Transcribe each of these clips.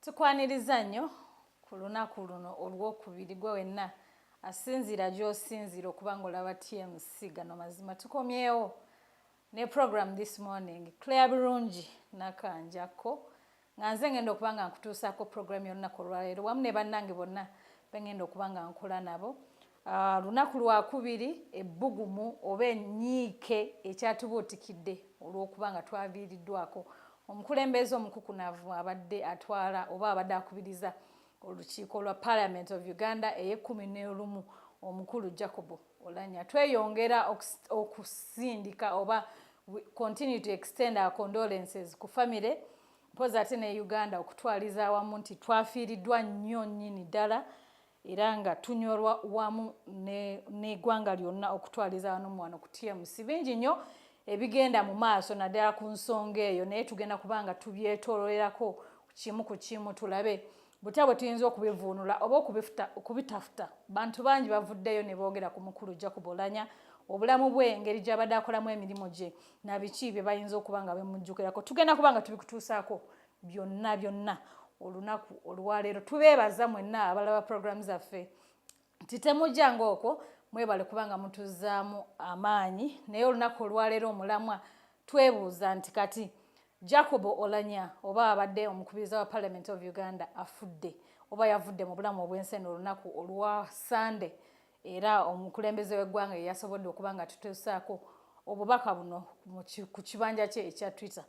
tukwaniriza nnyo ku lunaku luno olwokubiri gwe wenna asinziira gy'osinziira okuba nga olaba tmc gano mazima tukomyewo ne program this morning claire birungi nakanjakko nga nze ngenda okuba nga nkutuusaako program yolunaku olwaleero wamu ne bannange bonna bengenda okuba nga nkola nabo Ah, lunaku lwakubiri ebbugumu oba enyiike ekyatubuutikidde olw'okuba nga twaviiriddwako omukulembeze omukukunavu abadde atwala oba abadde akubiriza olukiiko lwa parliament of uganda eyekumi n'olumu omukulu jacob olanya tweyongera okusindika oba continue to extend our condolences ku famire mpozi ate ne uganda okutwaliza awamu nti twafiiriddwa nnyo nnyini ddala era nga tunyolwa wamu n'egwanga lyonna okutwaliza wano muwano ku tmc bingi nnyo ebigenda mu maaso naddala ku nsonga eyo naye tugenda kuba nga tubyetololerako kimu ku kimu tulabe butya bwe tuyinza okubivuunula oba okubitafuta bantu bangi bavuddeyo ne boogera ku mukulu jacob olanya obulamu bwe engeri gy'abadde akolamu emirimu gye na biki bye bayinza okuba nga bemujjukirako tugenda kuba nga tubikutuusaako byonna byonna olunaku olwaleero tubeebaza mwenna abalaba puroguramu zaffe nti temujjanga okwo mwebale kubanga mutuzaamu amaanyi naye olunaku olwaleero omulamwa twebuuza nti kati jacobo olanya oba abadde omukubiriza wa parliament of uganda afudde oba yavudde mu bulamu obw'ensi eno olunaku olwa sande era omukulembeze w'eggwanga yeyasobodde okuba nga tutesaako obubaka buno ku kibanja kye ekya twitter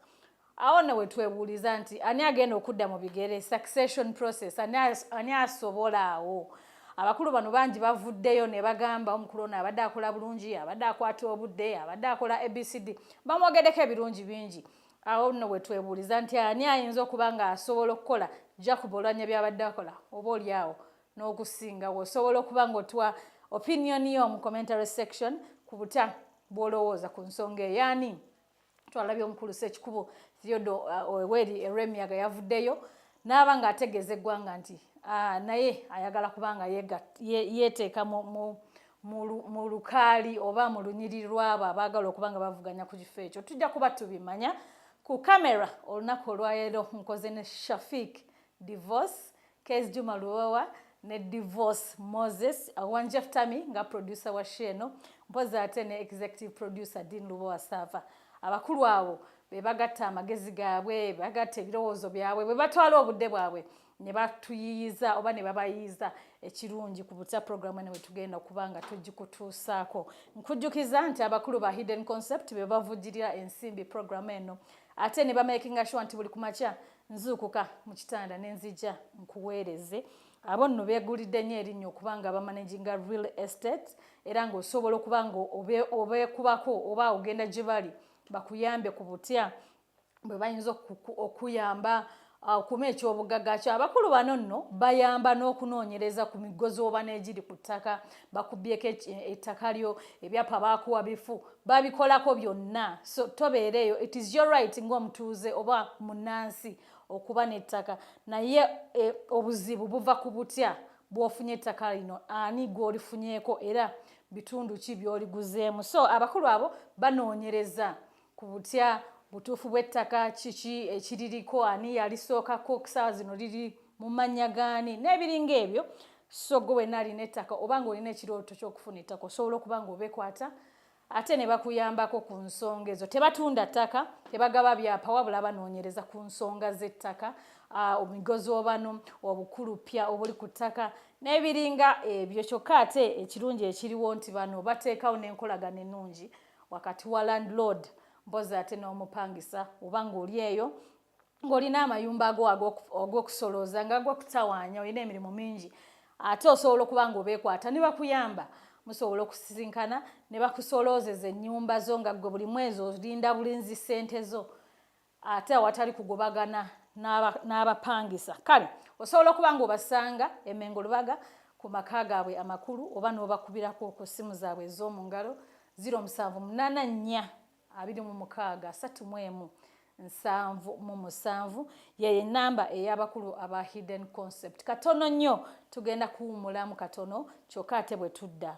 awo ne wetwebuuliza nti ani agenda okudda mu bigere succession process ani asobola awo abakulu bano bangi bavuddeyo ne bagamba omukulu ono abadde akola bulungi abadde akwata obudde abadde akola abcd bamwogeddeko ebirungi bingi awo nno wetwebuuliza nti ani ayinza okuba nga asobola okukola jacob olwanya byabadde akola oba oli awo n'okusingawo osobola okuba ng'otuwa opinion yo mu commentary section ku buta bw'olowooza ku nsonga eyaani twalabye omukulu sekikubo theodo uh, oweri erwemiyaga yavuddeyo n'aba ng'ategeeza eggwanga nti uh, naye ayagala kubanga yeeteeka mu lukaali oba mu lunyiri lwabo abaagala okuba nga bavuganya ku kifo ekyo tujja kuba tubimanya ku kamera olunaku olwaleero nkoze ne shafik divorce Kez Juma Luwawa ne Divorce Moses One Jeff Tami nga producer wa show eno mpozi ate ne executive producer Dean Luwawa Sava abakulu abo be bagatta amagezi gaabwe bagatta ebirowoozo byabwe bwe batwala obudde bwabwe ne batuyiyiza oba ne babayiyiza ekirungi ku butya puroguramu eno wetugenda okuba nga tugikutuusaako nkujjukiza nti abakulu ba hidden concept be bavujjirira ensimbi puroguramu eno ate ne bamakinga shuwa nti buli kumakya nzuukuka mu kitanda ne nzija nkuweereze abo nno beegulidde nnyo erinnya okuba nga bamanaginga real estate era ng'osobola okuba nga obeekubako oba ogenda gye bali bakuyambe ku butya bwe bayinza okuyamba ah, okuma ekyobugagga kyo abakulu bano nno bayamba n'okunoonyereza ku miggo z'oba n'egiri ku ttaka bakubyeko ettaka lyo ebyapa baakuwa bifu babikolako byonna so tobeera eyo it is your right ng'omutuuze oba munnansi okuba n'ettaka naye e, obuzibu buva ku butya bw'ofunye ettaka lino ani gw'olifunyeeko era bitundu ki by'oliguzeemu so abakulu abo banoonyereza ku butya butuufu bw'ettaka kiki ekiririko ani yalisookako okusaawa zino liri mu mannya gaani n'ebiringa ebyo so gwe wena alina ettaka oba nga olina ekirooto ky'okufuna ettaka osobola okuba nga obekwata ate ne bakuyambako ku nsonga ezo tebatunda ttaka tebagaba byapa wabula banoonyereza ku nsonga z'ettaka omigozi obano obukuluppya obuli ku ttaka n'ebiringa ebyo kyokka ate ekirungi ekiriwo nti bano bateekawo n'enkolagana ennungi wakati wa landlord mpozi ate n'omupangisa oba ng'oli eyo ng'olina amayumba ago ag'okusolooza nga ag'okutawaanya olina emirimu mingi ate osobola okuba nga obeekwata ne bakuyamba musobola okusisinkana ne bakusoloozeza ennyumba zo nga ggwe buli mwezi olinda bulinzi ssente zo ate awatali kugobagana n'abapangisa kale osobola okuba nga obasanga emengo lubaga ku maka gaabwe amakulu oba n'obakubirako ku ssimu zaabwe ez'omu ngalo 07842637 yeyo enamba ey'abakulu aba hidden concept katono nnyo tugenda kuwumulamu katono kyokka ate bwe tudda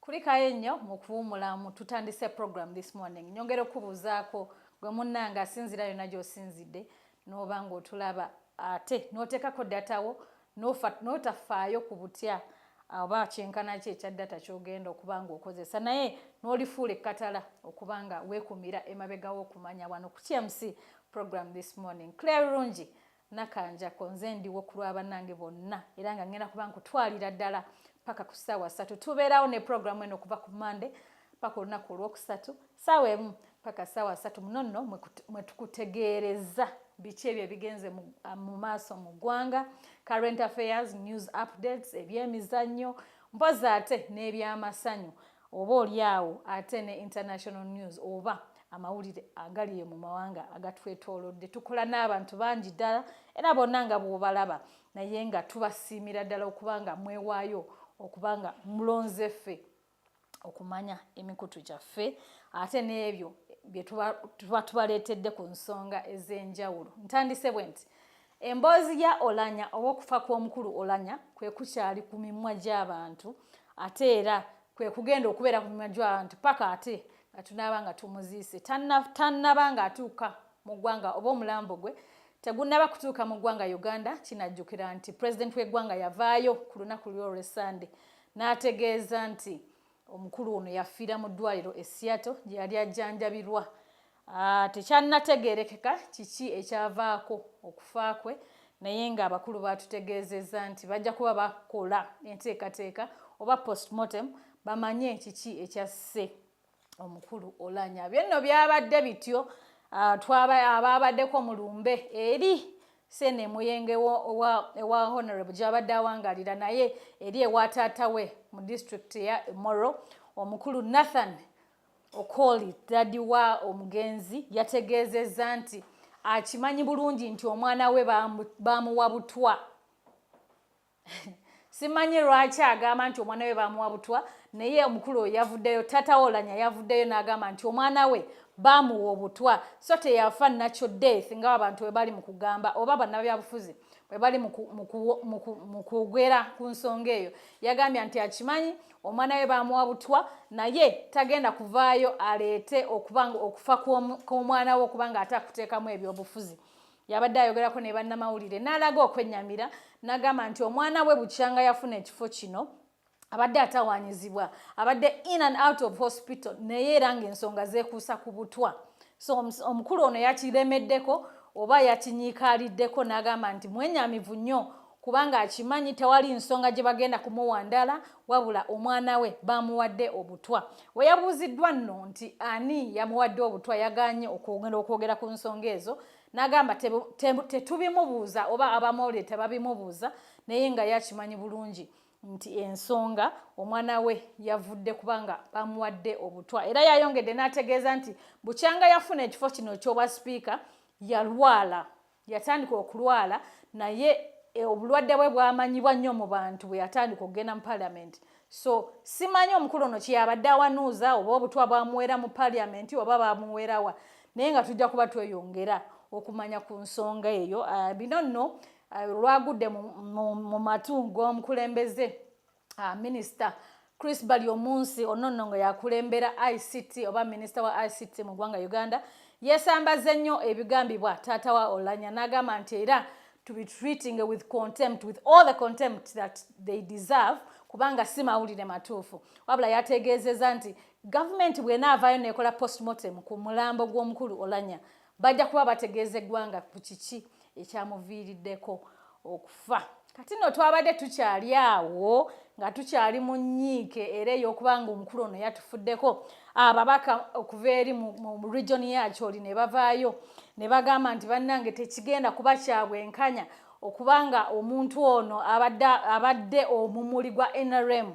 kulikayo nnyo mu kuwumulamu tutandise program this morning nyongera okubuuzaako gwe munnanga asinzira yonna gy'osinzidde n'oba ng'otulaba ate n'oteekako datawo n'otafaayo ku butya oba kyenkana ki ekya data ky'ogenda okuba ng'okozesa naye n'olifuula ekkatala okuba nga weekumira emabega w'okumanya wano ku tmc program this morning claire rungi Nakanjako nze ndiwo ku lwa bannange bonna era nga ngenda kuba nkutwalira ddala paka ku ssaawa ssatu tubeerawo ne puroguramu eno okuva ku mande paka olunaku olwokusatu ssaawa emu paka ssaawa ssatu muno nno mwe tukutegeereza biki ebyo ebigenze mu ah, maaso mu ggwanga current affairs news updates ebyemizannyo mpozi ate n'ebyamasanyu oba olyawo ate ne international news oba amawulire agaliyo mu mawanga agatwetoolodde tukola n'abantu bangi ddala era bonna nga bw'obalaba naye nga tubasiimira ddala okuba nga mwewaayo okuba nga mulonze ffe okumanya emikutu gyaffe ate n'ebyo bye tuba tubaleetedde ku nsonga ez'enjawulo ntandise bwe nti Emboozi ya Olanya ow'okufa kw'omukulu Olanya kwe kukyali ku mimwa gy'abantu ate era kwe kugenda okubeera ku mimwa gy'abantu paka ate nga tunaaba nga tumuziise tannaba nga atuuka mu ggwanga oba omulambo gwe tegunnaba kutuuka mu ggwanga uganda kinajjukira nti pulezidenti w'eggwanga yavaayo ku lunaku lwolwesande n'ategeeza nti Omukulu ono yafiira mu ddwaliro e Seattle gye yali ajjanjabirwa. Ah, Tekyanategeerekeka kiki ekyavaako okufa kwe naye ng'abakulu baatutegeezezza nti bajja kuba bakola enteekateeka oba postmortem bamanye kiki ekyasse omukulu Olanya. Byenno byabadde bityo ah, abaabadeko mu lumbe eri Sene Muyenge owa Honorable gy'abadde awangalira naye eri ewa taata we mu disitulikiti ya Moro omukulu Nathan Okoli dadi wa omugenzi yategeezezza nti akimanyi bulungi nti omwana we baamuwa butwa. simanyi lwaki agamba nti omwana we bamuwa butwa naye omukulu oyo yavuddeyo tata wolanya yavuddeyo n'agamba nti omwana we bamuwa obutwa so teyafa nakyo death nga abantu bwe bali mu kugamba oba bannabyabufuzi bwe bali mu kwogera ku nsonga eyo yagambye nti akimanyi omwana we bamuwa butwa naye tagenda kuvaayo aleete okuba okufa kw'omwana we okubanga ate akuteekamu ebyobufuzi yabadde ayogerako ne bannamawulire n'alaga okwennyamira n'agamba nti omwana we bukyanga yafuna ekifo kino abadde atawaanyizibwa abadde in and out of hospital naye era ng'ensonga zeekuusa ku butwa so omukulu ono yakiremeddeko oba yakinyiikaaliddeko n'agamba nti mwenyamivu nnyo kubanga akimanyi tewali nsonga gye bagenda kumuwandala wabula omwana we bamuwadde obutwa we yabuuziddwa nno nti ani yamuwadde obutwa yaganye okwongera okwogera ku nsonga ezo n'agamba tetubimubuuza oba abamawulire tebabimubuuza naye nga yakimanyi bulungi nti ensonga omwana we yavudde kubanga bamuwadde obutwa era yayongedde n'ategeeza nti bukyanga yafuna ekifo kino ky'obwa sipiika yalwala Yatandika okulwala naye e, obulwadde bwe bwamanyibwa nnyo mu bantu bwe yatandika okugenda mu paliamenti so simanyi omukulu ono kyeyabadde awanuuza oba obutwa bwamuwera mu paliamenti oba bamuwerawa naye nga tujja kuba tweyongera okumanya ku nsonga eyo uh, bino nno uh, lwagudde mu matu g'omukulembeze Ah, minister Chris Bali omunsi onono nga yakulembera ICT oba minister wa ICT mu gwanga Uganda yesambaze nnyo ebigambibwa taata wa Olanya nagamba nti era to be treating with contempt with all the contempt that they deserve kubanga si mawulire matuufu wabula yategeezeza nti gavumenti bwenaavaayo nekola postmortem ku mulambo gw'omukulu Olanya Bajja kuba bategeeza eggwanga ku kiki ekyamuviiriddeko okufa. Kati nno twabadde tukyali awo nga tukyali mu nnyiike era ey'okuba nga omukulu ono yatufuddeko ababaka okuva eri mu region yakyoli ne bavaayo ne bagamba nti bannange tekigenda kuba kya bwenkanya okuba nga omuntu ono abadde omumuli gwa nrm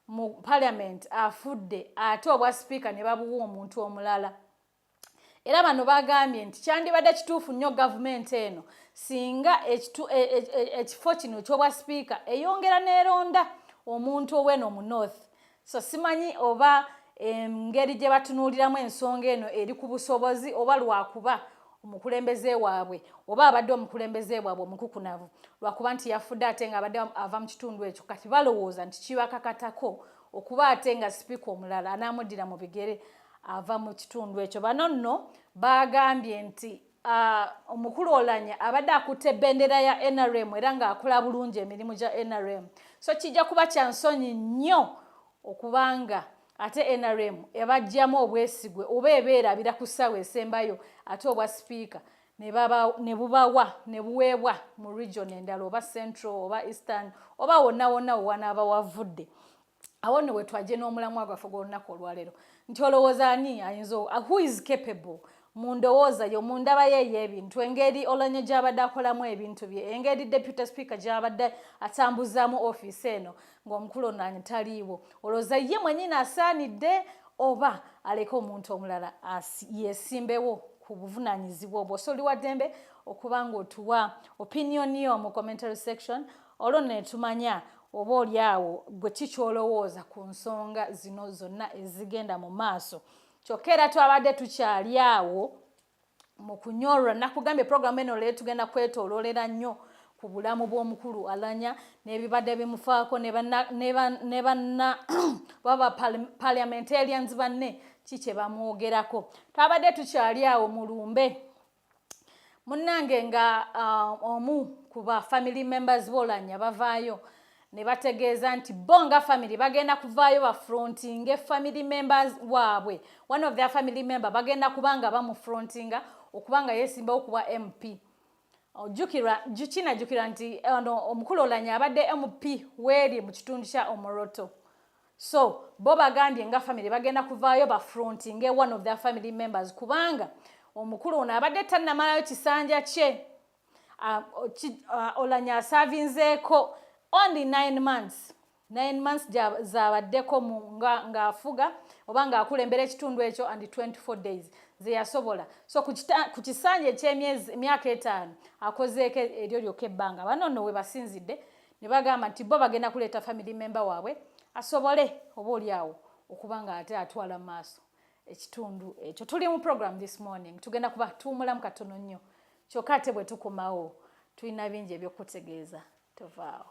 mu parliament afudde ate obwa sipiika ne babuwa omuntu omulala. era bano bagambye nti kyandibadde kituufu nnyo gavumenti eno singa e, e, e, ekifo kino kyobwa sipiika eyongera neronda omuntu oweno mu north so simanyi oba engeri gye batunuuliramu ensonga eno eri ku busobozi oba lwakuba omukulembeze waabwe oba abadde omukulembeze waabwe omukukunavu lwakuba nti yafudde ate nga abadde ava mu kitundu ekyo kati balowooza nti kibakakatako okuba ate nga sipiika omulala anaamuddira mu bigere ava mu kitundu ekyo bano nno baagambye nti uh, omukulu olanya abadde akutte bendera ya nrm era ng'akola bulungi emirimu gya nrm so kijja kuba kya nsonyi nnyo okubanga ate nrm ebajjamu obwesigwe oba ebeerabira ku ssaawa esembayo ate obwa sipiika ne bubawa ne buweebwa mu region endala oba central oba eastern oba wonna wonna wewanaaba wavudde awo nno wetwajje n'omulamwa gwaffe gw'olunaku olwaleero nti olowooza ani ayinza uh, who is capable mu ndowooza yo mu ndaba ye ey'ebintu engeri olanya gy'abadde akolamu ebintu bye engeri deputy speaker gy'abadde atambuzaamu ofiisi eno ng'omukulu onaanyi taliiwo olowooza ye mwenyini asaanidde oba aleke omuntu omulala yesimbewo ku buvunaanyizibwa obwo so oli wa ddembe okuba ng'otuwa opinion yo mu commentary section olwo netumanya oba oli awo gwe kikyolowooza ku nsonga zino zonna ezigenda mu maaso kyokka era twabadde tukyali awo mu kunyorwa nakugambye programu eno leero tugenda kwetololera nnyo ku bulamu bw'omukulu alanya n'ebibadde bimufaako ne banna baba parliamentarians banne ki kye bamwogerako twabadde tukyali awo mu lumbe munnange nga uh, omu ku ba family members bolanya bavaayo ne bategeeza nti bo nga family bagenda kuvaayo bafrontinge family members waabwe one of their family member bagenda kuba nga bamufrontinga okuba nga yeesimbawo kuba mp ojjukirwa kinajjukirwa nti ono omukulu olanya abadde mp weeri mu kitundu kya omoroto So bo bagambye nga family bagenda kuvaayo ba frontinge one of their family members kubanga omukulu ono abadde tannamalayo kisanja kye uh, uh, olanya asavinzeeko only nine months nine months zabaddeko ng'afuga nga oba ng'akulembera ekitundu ekyo and 24 days zeyasobola so ku kisanja ekyemyaka etaano akozeeko eryo lyokka ebbanga bano nno we basinzidde ne bagamba nti bo bagenda kuleeta family member waabwe asobole oba oli awo okuba nga ate atwala mu maaso ekitundu ekyo tuli mu program this morning tugenda kuba tuwumulamu katono nnyo kyokka ate bwe tukomawo tulina bingi ebyokutegeeza tovaawo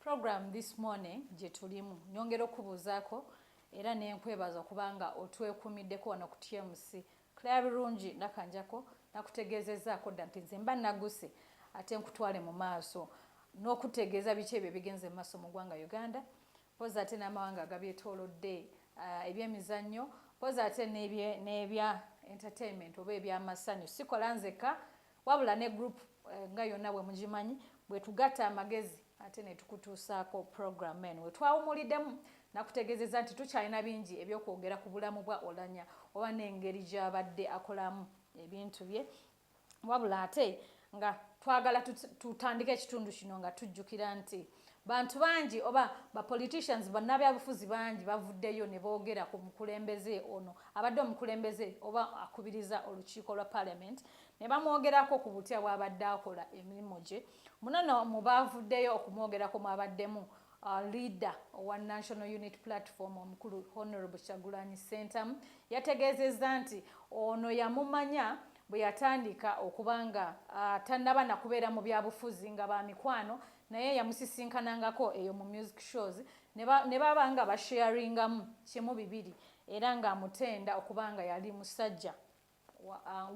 program this morning gye tulimu nyongera okubuuzaako era nenkwebaza okubanga otwekumiddeko wano ku tmc claire birungi nakanjako nakutegeezezaako dda nti nze mba naguse ate nkutwale mu maaso n'okutegeeza biki ebyo ebigenze mu maaso mu ggwanga uganda poza ate n'amawanga agabyetoolodde uh, ebyemizannyo poza ate n'ebya entertainment oba ebyamasanyu sikola nzekka wabula ne group eh, nga yonna bwe mugimanyi bwe tugatta amagezi ate ne tukutuusaako program en we twawumuliddemu nakutegeezeza nti tukyalina bingi ebyokwogera ku bulamu bwa olanya oba n'engeri gy'abadde akolamu ebintu bye wabula ate nga twagala tutandika ekitundu kino nga tujjukira nti Bantu bangi oba ba politicians bannabyabufuzi bangi bavuddeyo ne boogera ku mukulembeze ono abadde omukulembeze oba akubiriza olukiiko lwa parliament ne bamwogerako ku butya bw'abadde akola emirimu gye. Muno no mu baavuddeyo okumwogerako mwabaddemu uh, leader owa National Unit Platform omukulu Honorable Kyagulanyi Ssentamu yategeezezza nti ono yamumanya bwe yatandika okuba nga uh, tannaba na kubeera mu byabufuzi nga ba mikwano naye yamusisinkanangako eyo mu music shows ne baba nga basharingamu kimu bibiri era ng'amutenda okuba nga yali musajja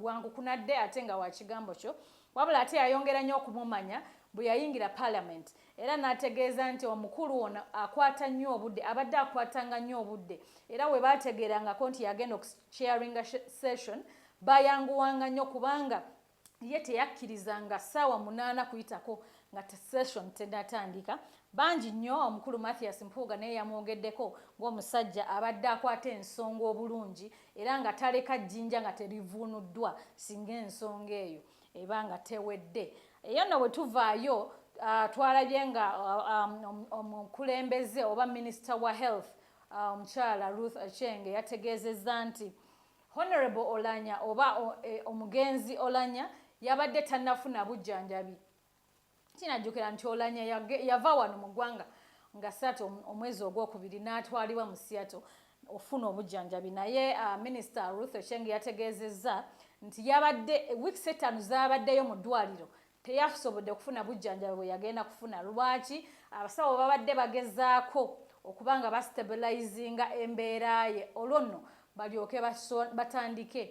wangukunadde ate nga wa kigambo kyo wabula ate yayongera nnyo okumumanya bwe yayingira parliament era n'ategeeza nti omukulu ono akwata nnyo obudde abadde akwatanga nnyo obudde era we baategeerangako nti yagenda okusharinga session bayanguwanga nnyo kubanga ye teyakkiriza nga ssaawa munaana kuyitako nga session tenatandika bangi nnyo omukulu mathias mpuuga naye yamwogeddeko ng'omusajja abadde akwata ensonga obulungi era nga taleka jjinja nga terivuunuddwa singa ensonga eyo eba nga tewedde eyo nno bwe tuvaayo ah, twalabye nga ah, um, omukulembeze oba minisita wa health ah, omukyala ruth achenge yategeezezza nti Honorable Olanya oba e, omugenzi Olanya yabadde tannafuna bujjanjabi kinajjukira nti Olanya yava wano mu ggwanga nga satu omwezi ogwokubiri n'atwalibwa mu Seattle ofuna obujjanjabi naye uh, minisita Ruth Ocheng yategeezezza nti yabadde wiiki setaano zaabaddeyo mu ddwaliro teyasobodde kufuna bujjanjabi bwe yagenda kufuna lwaki abasawo babadde bagezaako okuba nga bastabilizinga embeera ye olwo nno balyoke batandike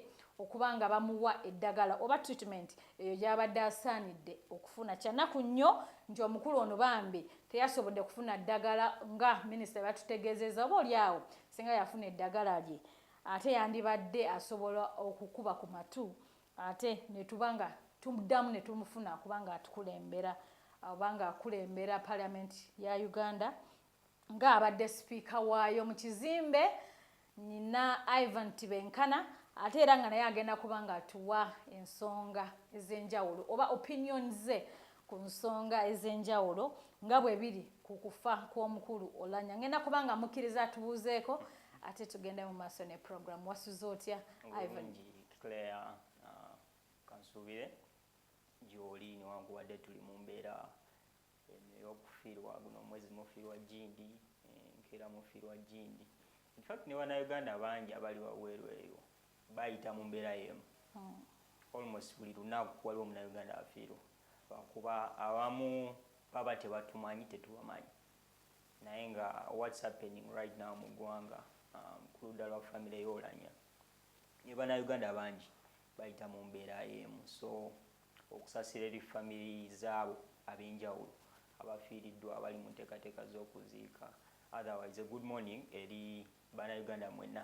okuba nga bamuwa eddagala oba treatment eyo gyabadde asaanidde okufuna kyanaku nnyo nti omukulu ono bambi teyasobodde kufuna ddagala nga minisita batutegeezeza oba oli awo singa yafuna eddagala lye ate yandibadde asobola okukuba ku matu ate netuba nga tumuddamu ne tumufuna kubanga atukulembera obanga akulembera paliamenti ya uganda nga abadde sipiika waayo mu kizimbe nyina ivan tibenkana ate era nga naye agenda kuba nga atuwa ensonga ez'enjawulo oba opinion ze ku nsonga ez'enjawulo nga bwe biri ku kufa kw'omukulu olanya ngenda kuba nga mukkiriza atubuuzeeko ate tugende mu maaso ne programu wasuze otya ivan Claire uh, kansuubire gy'oli newankubadde tuli mu mbeera eno ey'okufiirwa guno omwezi mufiirwa jindi eh, nkeera mufiirwa jindi infact ne bannayuganda bangi abali wabweru eyo bayita mu mbeera y'emu hmm. almost buli lunaku waliwo munayuganda afiirwa lwakuba abamu baba tebatumanyi tetubamanyi naye nga what's happening right now mu ggwanga um, ku ludda lwa famire y'olanya ne banauganda bangi bayita mu mbeera emu so okusasira eri famiri zaabo ab'enjawulo abafiiriddwa abali mu nteekateeka z'okuziika otherwise good morning eri banauganda mwena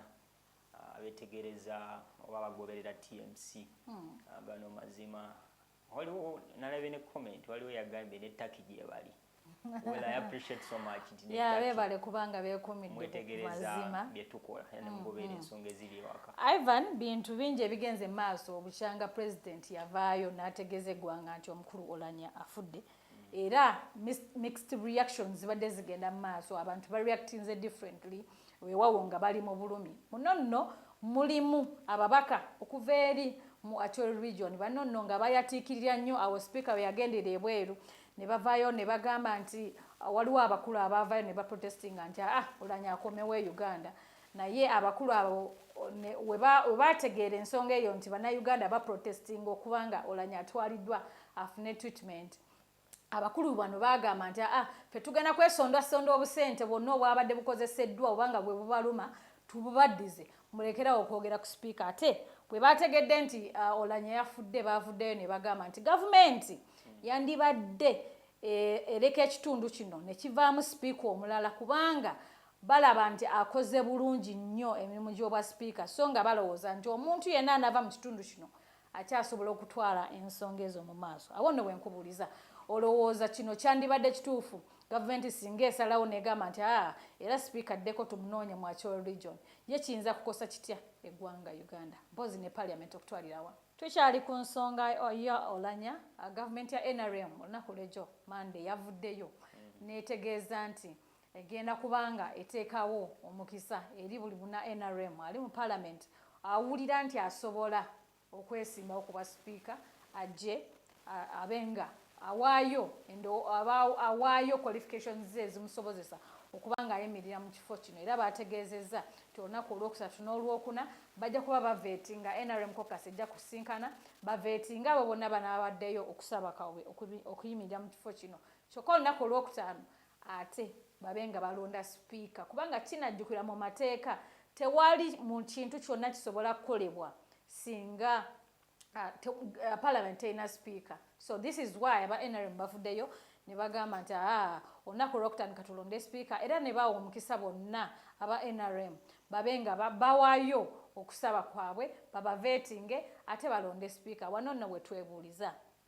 abetegereza oba bagoberera tmc hmm. gano mazima waliwo nalabye ne comment waliwo yagambye ne taki gyebali well i appreciate so much nti yeah bebale kubanga bekumidde mazima byetukola yani mm, mugobera mm. ensonga eziri ewaka ivan bintu bingi ebigenze maaso obukyanga president yavaayo nategeza eggwanga nti omukulu olanya afudde era mixed reactions zibadde zigenda mu maaso abantu ba reactinze differently wewawo nga bali mu bulumi muno nno mulimu ababaka okuva eri mu Acholi region bano nno nga bayatiikirira nnyo awo sipiika we yagendera ebweru ne bavaayo ne bagamba nti ah, waliwo abakulu abaavaayo ne baprotestinga nti aa ah, olanya akomewo e uganda Naye abakulu abo webaategeera ensonga eyo nti bannayuganda baprotestinga okuba nga olanya atwaliddwa afune treatment abakulu bano baagamba nti aa fe tugenda kwesondasonda obusente bwonna obwabadde bukozeseddwa obanga bwe bubaluma tububaddize mulekerawo okwogera ku sipiika ate bwe baategedde nti uh, olanya yafudde baavuddeyo ne bagamba nti gavumenti yandibadde eh, ereka ekitundu kino ne kivaamu sipiika omulala kubanga balaba nti akoze bulungi nnyo emirimu gy'obwa sipiika sso nga balowooza nti omuntu yenna anaava mu kitundu kino akyasobola okutwala ensonga ezo mu maaso. Awo nno we nkubuuliza, olowooza kino kyandibadde kituufu gavumenti singa esalawo n'egamba nti aa era sipiika addeko tumunoonye mu Acholi Region, ye kiyinza kukosa kitya eggwanga Uganda mpozzi ne Parliament okutwalira awamu? Tukyali ku nsonga ya Olanya, gavumenti ya nrm olunaku lw'egyo Mmande yavuddeyo n'etegeeza nti egenda kubanga eteekawo omukisa eri buli buna nrm ali mu palamenti awulira nti asobola okwesimbawo ku bwa sipiika ajje abenga awaayo awaayo qualifications ze ezimusobozesa okuba ng'ayimirira mu kifo kino era baategeezezza nti olunaku olwokusatu n'olwokuna bajja kuba baveeti nga nrm cocas ejja kusinkana baveeti nga abo bonna banaabaddeyo okusaba kawwe okuyimirira mu kifo kino kyokka olunaku olwokutaano ate babe nga balonda sipiika kubanga kinajjukira mu mateeka tewali mu kintu kyonna kisobola kukolebwa singa ah, ah, parliament terina sipiika so this is why aba nrm bavuddeyo ne bagamba nti aa ah, olunaku olwokutandika tulonde sipiika era ne bawa omukisa bonna aba nrm babe nga bawayo okusaba kwabwe babavetinge ate balonde sipiika wano nno wetwebuuliza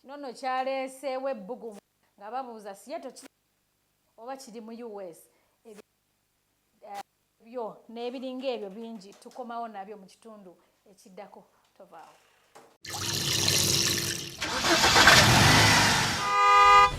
Kino nno kyaleeseewo ebbugumu nga babuuza Seattle kiri oba kiri mu US byo n'ebiringa ebyo bingi tukomawo nabyo mu kitundu ekiddako tovaawo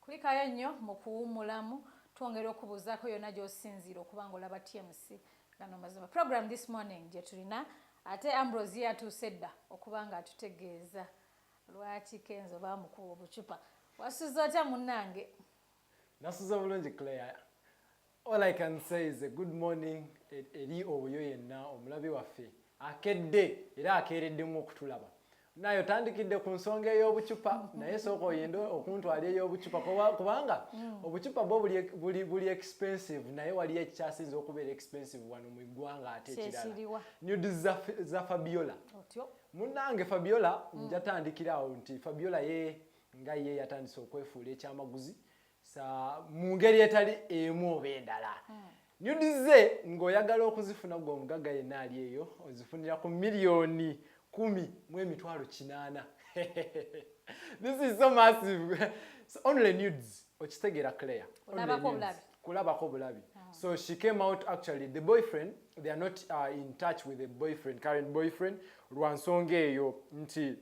kulikayo nnyo mu kuwummulamu twongera okubuuzaako yonna gy'osinziira okuba nga olaba tmc gano mazima program this morning gye tulina ate ambrosi yatuuse dda okuba nga atutegeeza lwaki kenzo baamukuba obucupa wasuza otya munnange nasuza bulungi claire All I can say is a good morning e-, eri oyo yenna omulabi waffe akedde era akeereddemu okutulaba naye otandikidde ku nsonga ey'obucupa naye sooka oyende okuntwala ey'obucupa kubanga mm. obucupa bwo buli expensive naye waliyo ekikyasinze okubeera expensive wano mu ggwanga ate ekirala nud za fabiola munnange fabiola mm. njatandikiraawo nti fabiola ye nga ye yatandise okwefuula ekyamaguzi sa mu ngeri etali emu oba endala hmm. nyudi ze ng'oyagala okuzifuna gwe omugagga yenna ali eyo ozifunira ku miliyoni kumi mu emitwalo kinaana this is so massive so only nudes okitegeera claire kulabako obulabi hmm. so she came out actually the boyfriend they are not uh, in touch with the boyfriend current boyfriend lwa nsonga eyo nti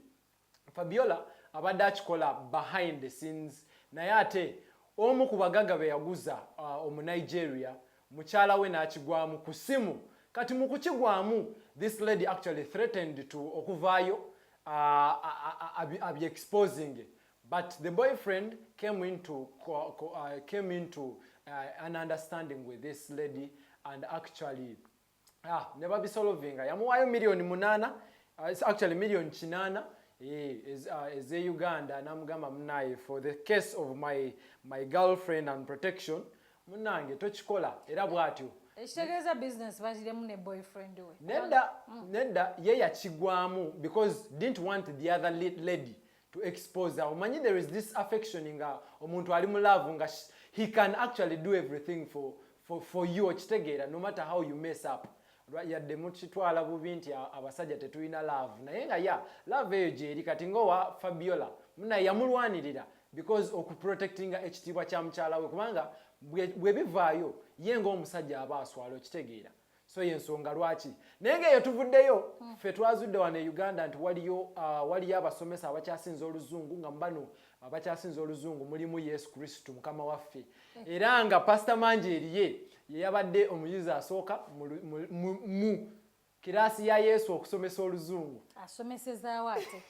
Fabiola abadde akikola behind the scenes naye ate omu ku bagagga be yaguza uh, omunigeria mukyala we n'akigwamu ku ssimu kati mu kukigwamu this lady actually threatened to okuvaayo uh, abyexposing but the boyfriend came into, uh, came into uh, an understanding with this lady and actually ah, ne babisolovinga yamuwaayo miliyoni munaana uh, actually miliyoni kinaana eh, uh, eze uh, uganda namugamba munaye for the case of my, my girlfriend and protection munange tokikola era bwatyo ekitegeeza business bagiremu ne boyfriend we nedda mm. nedda ye yakigwamu because didn't want the other lady to expose her omanyi there is this affection nga omuntu ali mu love nga he can actually do everything for, for, for you okitegeera no matter how you mess up yadde mukitwala bubi nti abasajja tetulina love naye nga ya love eyo gyeri kati ngaowa fabiola muna yamulwanirira because okuprotectinga ekitiibwa kya mukyala we kubanga bwebivaayo ye ngaomusajja aba aswala okitegeera so yensonga lwaki naye nga eyo tuvuddeyo hmm. ffe twazudde wano e uganda nti waliyo uh, waliyo abasomesa abakyasinza oluzungu nga mubano abakyasinza oluzungu mulimu yesu kristu mukama waffe hmm. era nga pasita mangi eriye yeyabadde omuyizi asooka mu kiraasi ya yesu okusomesa oluzungu asomesezawo ate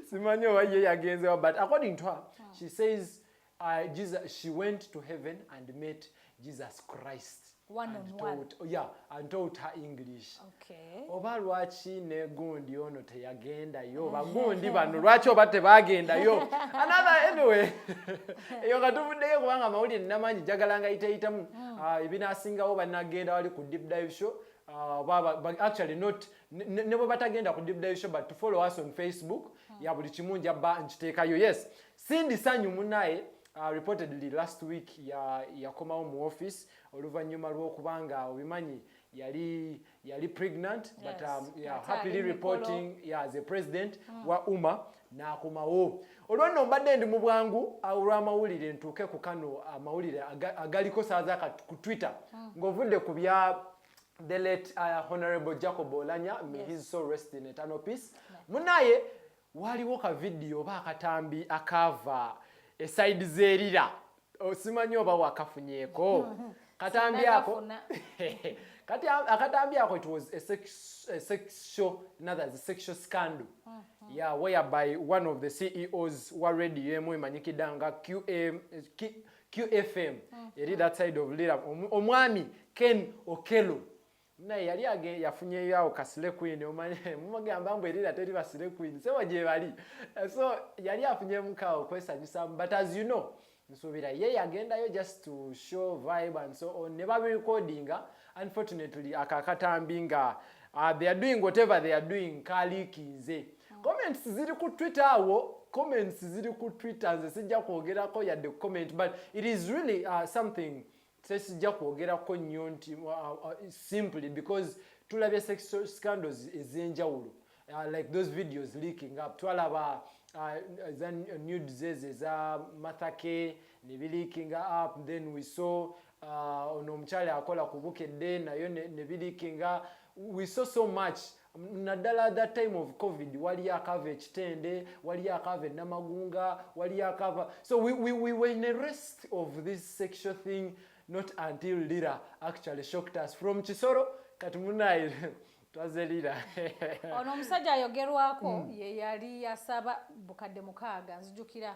simanyi oba ye yagenzewa but according to her hmm. she says Uh, Jesus, she went to heaven and met Jesus Christ. One and on taught, one. Oh, yeah, and taught her English. Okay. Oba lwaki ne gundi ono teyagendayo oba gundi bano lwaki oba tebagendayo another anyway eyo nga tuvuddeyo kubanga amawulire namaanyi jagala nga yiteyitamu mm. ah, ebinasingawo banagenda wali ku deep dive show Uh, baba, but actually not ne bwe batagenda ku deep dive show but to follow us on facebook mm. ya buli kimu njabba nkiteekayo yes Cindy Sanyu munaye uh, reportedly last week yakomawo ya mu office oluvannyuma lw'okuba nga obimanyi yali yali pregnant yes. but um, yeah, happily reporting yeah, as a president mm. wa uma n'akomawo olwanno mbadde ndi mu bwangu olw'amawulire ntuuke ku kano amawulire agaliko saaza ku twitter mm. ng'ovudde ku bya the late uh, honorable jacob olanya may yes. his soul rest in eternal peace yeah. munaye Waaliwo ka vidiyo oba akatambi akaava esayidi z'erira osimanyi oba wakafunyeeko katambi ako kati akatambi ako it was a sexual another the sexual scandal mm -hmm. yeah whereby one of the CEOs wa radio emu emanyikidde nga QM QFM mm -hmm. eri that side of Lira omwami Ken Okello naye yali age yafunyeyo awo ka slay queen omanye mumugamba mbu erira teri ba slay queen sewa gyebali so yali afunyemu kawo kwesanyusamu but as you know nsuubira ye yagendayo just to show vibe and so on ne babirecordinga unfortunately ako akatambi nga uh, they are doing whatever they are doing kaliikinze mm. comments ziri ku twitter awo comments ziri ku twitter nze sijja kwogerako yadde comment but it is really uh, something sesijja kwogerako nnyo nti uh, uh, uh, simply because tulabye sex scandals ez'enjawulo uh, like those videos leaking up twalaba uh, za nudes ezo eza mathake ne bilikinga up then we saw uh, ono omukyala akola ku bukedde nayo ne bilikinga we saw so much naddala that time of covid waliyo akaava ekitende waliyo akaava enamagunga waliyo akaava so we, we, we were in a rest of this sexual thing not until lira actually shocked us from kisoro kati munaye twaze lira ono omusajja ayogerwako mm. ye yali yasaba bukadde mukaaga nzijukira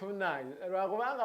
munange lwakubanga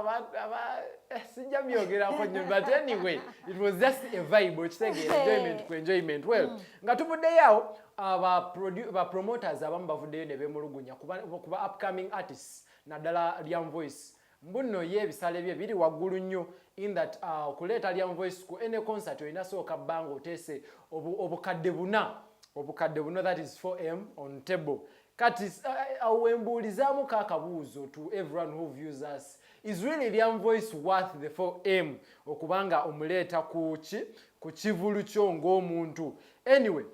eh, sijja byogerako nyo but anyway it was just a vibe okitegeera enjoyment ku enjoyment well mm. nga tuvuddeyo awo ah, ba promoters abamu bavuddeyo ne bemulugunya kuba upcoming artists naddala lyam voice mbuno ye ebisale bye biri waggulu nnyo in that ah, okuleeta lyam voice ku any concert olina sooka bbanga oteese obukadde buna obukadde buno that is 4m on table kati eh, eh, awo wembuulizamu ka akabuuzo to everyone who views us is really liam voice worth the 4m okubanga omuleeta kuki ku kivulu kyo ng'omuntu anyway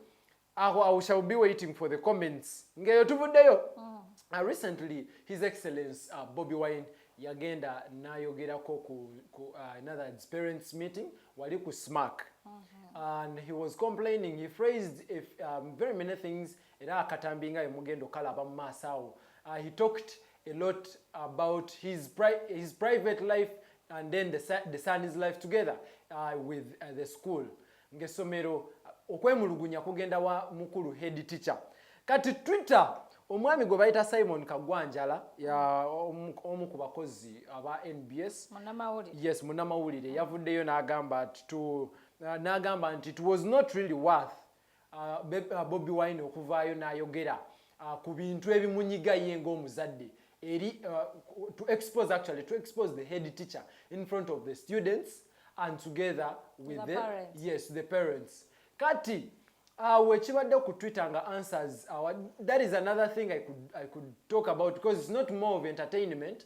aho i shall be waiting for the comments ngeyo tuvuddeyo mm. uh, recently his excellence uh, bobby wine yagenda nayogerako ku, ku uh, another parents meeting wali ku smark mm -hmm. and he was complaining he phrased if, um, very many things era akatambi nga yemugenda okalaba mu maaso awo uh, he talked a lot about his, pri his private life and then the, the son's life together uh, with uh, the school ng'essomero uh, okwemulugunya kugenda wa mukulu head teacher kati twitter omwami gwe bayita simon kagwanjala omu ku bakozi aba nbs yes munamawulire yavuddeyo n'agamba nti uh, n'agamba nti it was not really worth uh, Bobi Wine okuvaayo n'ayogera uh, ku bintu ebimunyiga ye ng'omuzadde eri uh, to expose actually to expose the head teacher in front of the students and together with the, the parents. yes the parents kati awo uh, ekibadde ku twitter nga answers our, uh, that is another thing I could, I could talk about because it's not more of entertainment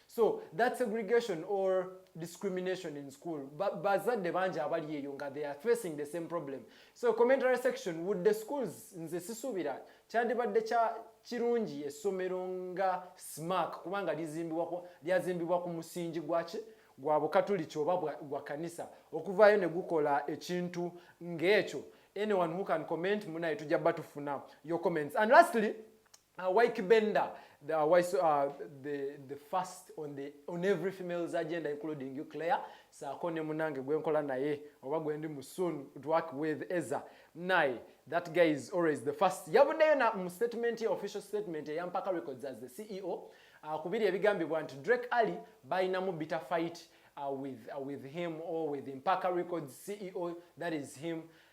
so that segregation or discrimination in school bazadde bangi abali eyo nga they are facing the same problem so commentary section would the schools nze sisuubira kyandibadde kya kirungi essomero nga smark kubanga lyazimbibwa ku musingi gwaki gwa bukatuliki oba gwa kanisa okuvaayo ne gukola ekintu ng'ekyo anyone who can comment munaye tujja batufuna your comments and lastly Uh, Wyke Benda, the, uh, why so, uh, the, the first on, the, on every female's agenda including you Claire, saako ne munange gwe nkola naye oba gwe ndi mu soon to work with Eza naye that guy is always the first. Yavuddeyo na mu statement ya official statement eya Mpaka Records as the CEO uh, kubiri ebigambibwa nti Drake Ali balinamu bitter fight uh, with, uh, with him or with Mpaka Records CEO that is him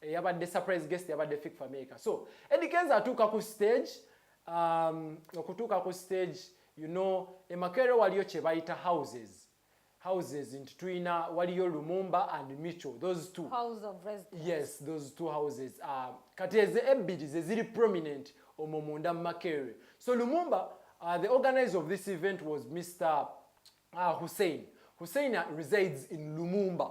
eyabadde surprise guest yabadde Fik Fameka. So Eddie Kenzo atuuka ku stage um, okutuuka ku stage you know emakere waliyo kye bayita houses houses nti tulina waliyo Lumumba and Micho those two House of residence. yes those two houses uh, kati ezo ebbiri ze ziri prominent omwo munda mu Makerere so Lumumba uh, the organizer of this event was Mr uh, Hussein Hussein resides in Lumumba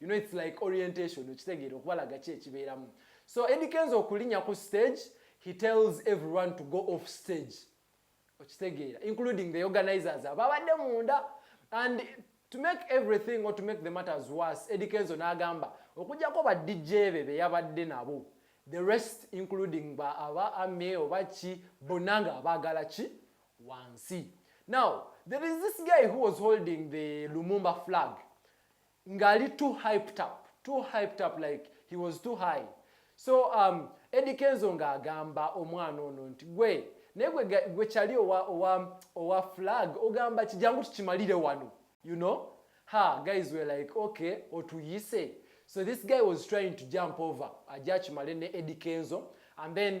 you know it's like orientation okitegeera okubalaga ki ekibeeramu so Eddie Kenzo okulinya ku stage he tells everyone to go off stage okitegeera including the organizers ababadde munda and to make everything or to make the matters worse Eddie Kenzo n'agamba okujjako ba DJ be be yabadde nabo the rest including ba aba ame oba ki bonna nga abaagala ki wansi now there is this guy who was holding the Lumumba flag nga ali too hyped up too hyped up like he was too high so um, Eddie Kenzo nga agamba omwana ono nti gwe naye gwe kyali owa, owa, owa flag ogamba kijangu tukimalire wano you know ha guys were like okay otuyise so this guy was trying to jump over aja akimale ne Eddie Kenzo and then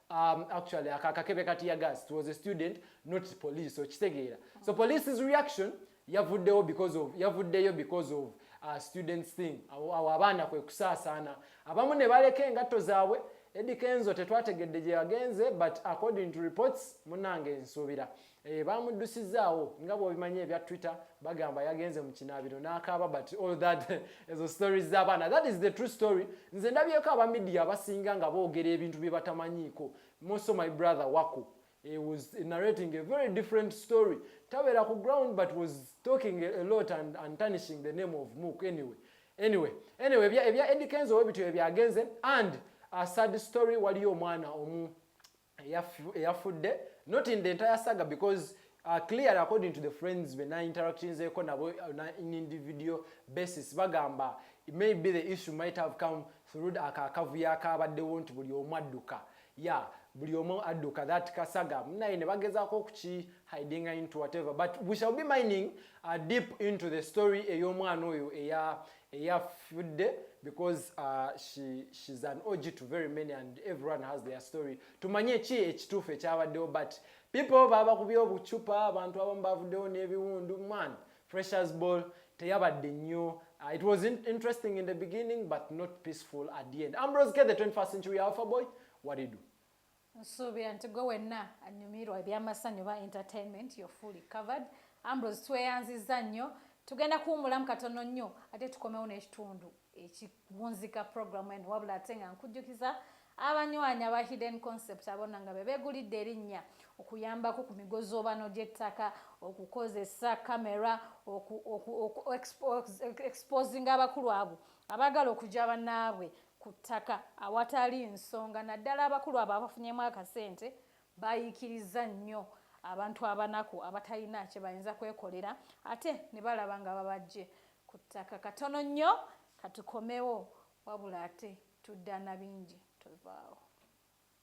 Um, actually akakebe kati ya gas it was a student not police so kitegeera so police's reaction yavuddewo because of yavuddeyo because of uh, students thing awo abaana kwe kusaasaana abamu ne baleka engatto zaabwe Eddie Kenzo tetwategedde gye yagenze but according to reports munange nsuubira Eh, baamuddusizaawo nga bwobimanyi ebya twitter bagamba yagenze mu kinaabiro n'akaaba but all that ezo stories z'abaana that is the true story nze ndabyeko aba midia abasinga nga boogera ebintu bye batamanyiiko moso my brother wako he was narrating a very different story tabeera ku ground but was talking a lot and, and tarnishing the name of mook anyway anyway anyway ebya edikenzo webityo ebyagenze and a sad story waliyo omwana omu eyafudde not in the entire saga because uh, clearly according to the friends be na interactions eko nabo uh, na in individual basis bagamba maybe the issue might have come through akakavuyo akabaddewo nti buli omu adduka ya buli omu adduka that kasaga munaye ne bagezaako okuki hidinga into whatever but we shall be mining uh, deep into the story ey'omwana oyo eya eyafudde because uh, she, she's an og to very many and everyone has their story tumanye ki ekituufu ekyabaddewo but people babakubye obucupa abantu abamu bavuddewo n'ebiwundu man freshers ball teyabadde nnyo uh, it was in interesting in the beginning but not peaceful at the end ambrose k the 21st century alpha boy what do you do nsuubira nti gwe wenna anyumirwa ebyamasanyu oba entertainment yo fully covered ambrose tweyanzizza nnyo tugenda kuwumulamu katono nnyo ate tukomewo n'ekitundu ekiwunzika programu eno wabula ate nga nkujjukiza abanywanyi aba hidden concept abona nga bebegulidde erinnya okuyambako ku migozoobano gy'ettaka okukozesa kamera okuexposing abakulu abo abaagala okugya banaabwe ku ttaka awatali nsonga naddala abakulu abo abafunyemu akasente bayiikiriza nnyo abantu abanaku abatalina kye bayinza kwekolera ate ne balaba nga babajje ku ttaka katono nnyo katukomewo wabula ate tudda na bingi tuvaawo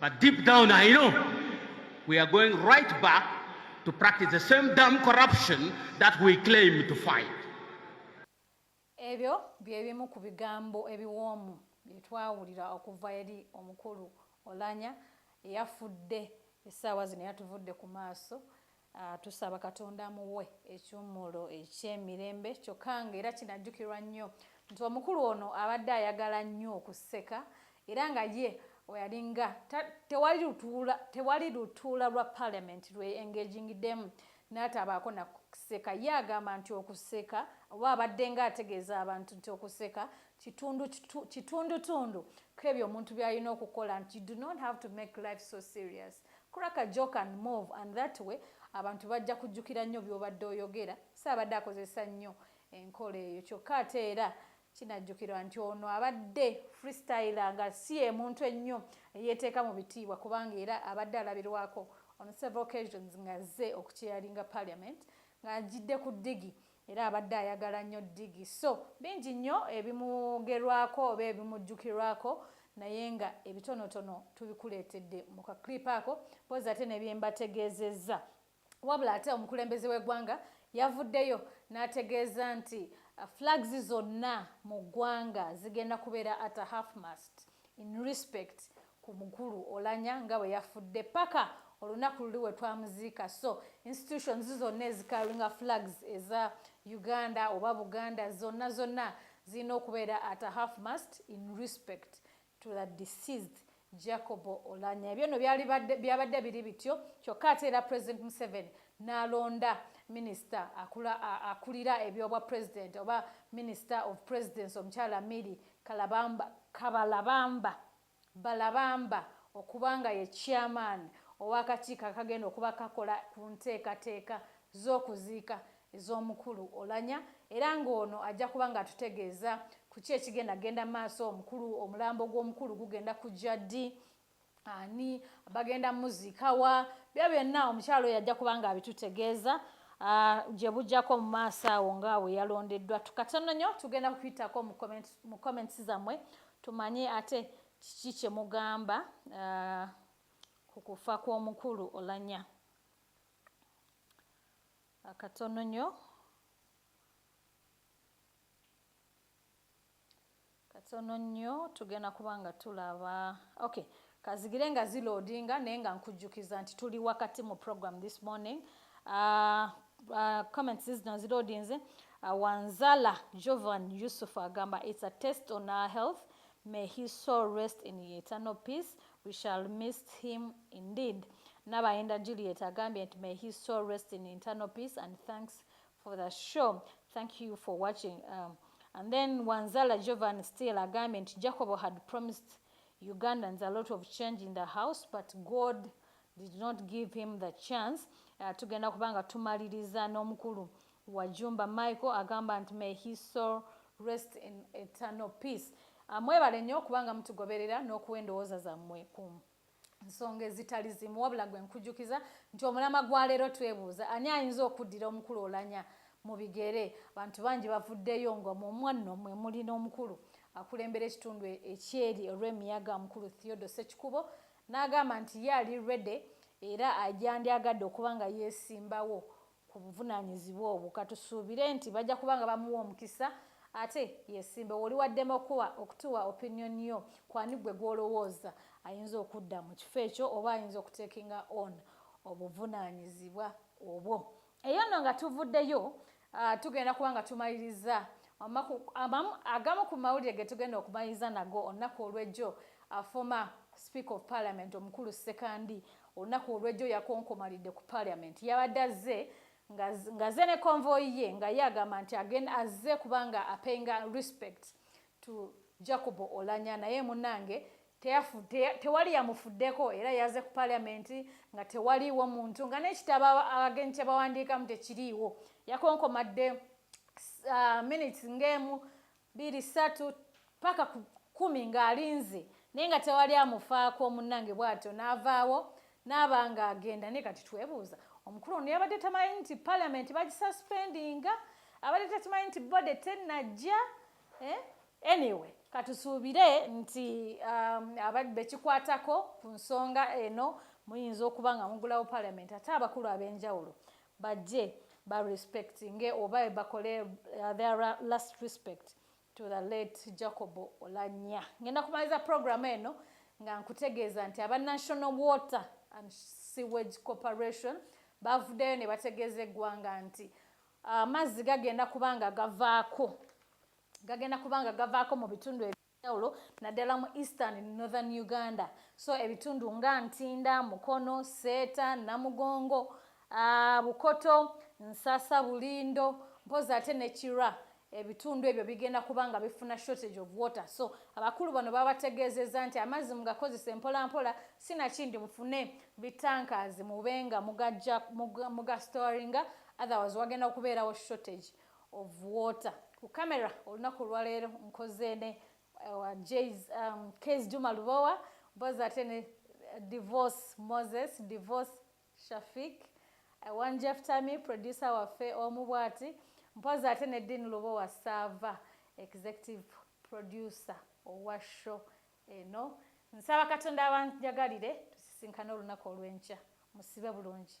But deep down I know we are going right back to practice the same damn corruption that we claim to fight. Ebyo bye bimu ku bigambo ebiwoomu bye twawulira okuva eri omukulu Olanya eyafudde essaawa zino yatuvudde ku maaso Tusaba Katonda amuwe ekiwummulo eky'emirembe kyokka ng'era kinajjukirwa nnyo nti omukulu ono abadde ayagala nnyo okuseka era nga ye weyalinga tewali lutuula tewali lutuula lwa parliament lwe engagingidemu n'atabaako nakuseka ye agamba nti okuseka oba abadde nga ategeeza abantu nti okuseka kitundu kitundutundu kwebyo omuntu byalina okukola nti do not have to make life so serious Crack a joke and move and that way abantu bajja kujjukira nnyo by'obadde oyogera. So abadde akozesa nnyo enkola eyo kyokka ate era kinajjukirwa nti ono abadde freestyler nga si ye muntu ennyo eyeeteeka mu bitiibwa kubanga era abadde alabirwako on several occasions ng'azze okucheyalinga parliament ng'ajjidde ku ddigi Era abadde ayagala nnyo ddigi so bingi nnyo ebimwogerwako oba ebimujjukirwako naye nga ebitonotono tubikuleetedde mu ka clip ako mpozzi ate ne bye mbategeezezza. Wabula ate omukulembeze w'eggwanga yavuddeyo n'ategeeza nti flags zonna mu ggwanga zigenda kubeera at a half mast in respect ku mukulu olanya nga bwe yafudde paka olunaku luli we twamuziika so institutions zonna ezikaringa flags eza uganda oba buganda zonna zonna zirina okubeera at a half mast in respect to the deceased jacobo olanya ebyo no byabadde biri bityo kyokka ate era president museveni n'alonda minisita akulira ebyobwa president oba minisita of presidence omukyala miri Kalabamba, Kabalabamba, Balabamba okuba nga ye Chairman ow'akakiiko akagenda okuba kakola ku nteekateeka z'okuziika ez'omukulu Olanya era nga ono ajja kuba nga atutegeeza ku ki ekigenda genda maaso, omukulu, omulambo gw'omukulu gugenda kujja ddi, ani bagenda muzikawa byo byonna omukyalo oyo ajja kubanga abitutegeeza ah, gye bujjako mu maaso awo nga bwe yalondeddwa tukatono nnyo tugenda kukuyitako mu comments zammwe tumanye ate kiki kye mugamba ah, ku kufa kw'omukulu olanya akatono nnyo katono nnyo tugenda kuba nga tulaba ok kazigire nga ziloodinga naye nga nkujjukiza nti tuli wakati mu program this morning uh, uh, comments zino ziloodinze uh, wanzala jovan yusuf agamba its a test on our health may his soul rest in eternal peace we shall miss him indeed nabayenda juliet agambye nti may his soul rest in internal peace and thanks for the show thank you for watching um, and then wanzala jovan still agambye nti jacobo had promised ugandans a lot of change in the house but god did not give him the chance uh, tugenda kubanga tumaliriza n'omukulu wa jumba michael agamba nti may he soul rest in eternal peace uh, mwebale nnyo kubanga mutugoberera n'okuwa endowooza zammwe kumu nsonga ezitali zimu wabula gwe nkujukiza nti omulama gwa leero twebuuza ani ayinza okuddira omukulu olanya mu bigere abantu bangi bavuddeyo nga mumwanno mwe muli n'omukulu akulembera ekitundu e-, ekyeri olw'emiyaga omukulu theodo sekikubo n'agamba nti ye ali rede era agyandyagadde okuba nga yeesimbawo ku buvunanyizibwa obwo katusuubire nti bajja kuba nga bamuwa omukisa ate yesimbewo oli waddema okuwa okutuwa opinion yo kwani gwe gwolowooza ayinza okudda mu kifo ekyo oba ayinza okutekinga on obuvunanyizibwa obwo eyo nno nga tuvuddeyo uh, tugenda kuba nga tumaliriza agamu ku mawulire getugenda okumaliriza nago olunaku olwejjo afoma speaker of parliament omukulu sekandi Olunaku olw'ejjo yakonkomalidde ku parliament yabadde azze ngaze ne convoy ye nga ye agamba nti agen azze kubanga apenga respect to Jacobo Olanya naye munange tewali yamufuddeko era yaze ku parliament nga tewaliiwo muntu nga nekitabo abagenyi kyebawandiikamu tekiriiwo yakonkomadde uh, minutes ng'emu Biri ssatu paka ku kkumi ng'alinze naye nga tewali amufaako munnange bw'atyo n'avaawo n'aba ng'agenda naye kati twebuuza omukulu ono yabadde tamanyi nti palamenti bagisuspendinga abadde takimanyi nti bode tennajja eh? anyway katusuubire nti um, abadde bekikwatako ku nsonga eno muyinza okuba nga mugulawo palamenti ate abakulu ab'enjawulo Bajje ba respect nge oba bakole their last respect to the late Jacob Olanya. Ngenda kumaliza program eno nga nkutegeeza nti aba National Water and Sewage Corporation bavudeyo ne bategeeza eggwanga nti amazzi ah, gagenda kubanga gavaako gagenda kubanga gavaako mu bitundu njawulo naddala mu Eastern ne Northern Uganda so ebitundu nga Ntinda, Mukono, Seeta, Namugongo, aa Bukoto, Nsasa, Bulindo mpozzi ate ne Kira ebitundu ebyo bigenda kuba nga bifuna shortage of water so abakulu bano babategeezezza nti amazzi mugakozese mpola mpola sinakindi mufune bi tankers mube nga mugaja muga storinga otherwise wagenda okubeerawo shortage of water ku camera olunaku olwaleero nkoze ne eh, wa js um, kes juma lubowa mpozi ate ne eh, divorce moses divorce shafik eh, one jeff tami producer waffe omu bwati mpozi ate ne din lubowa sava executive producer owa show eno nsaba katonda abanjagalire tusisinkane olunaku olwenkya musibe bulungi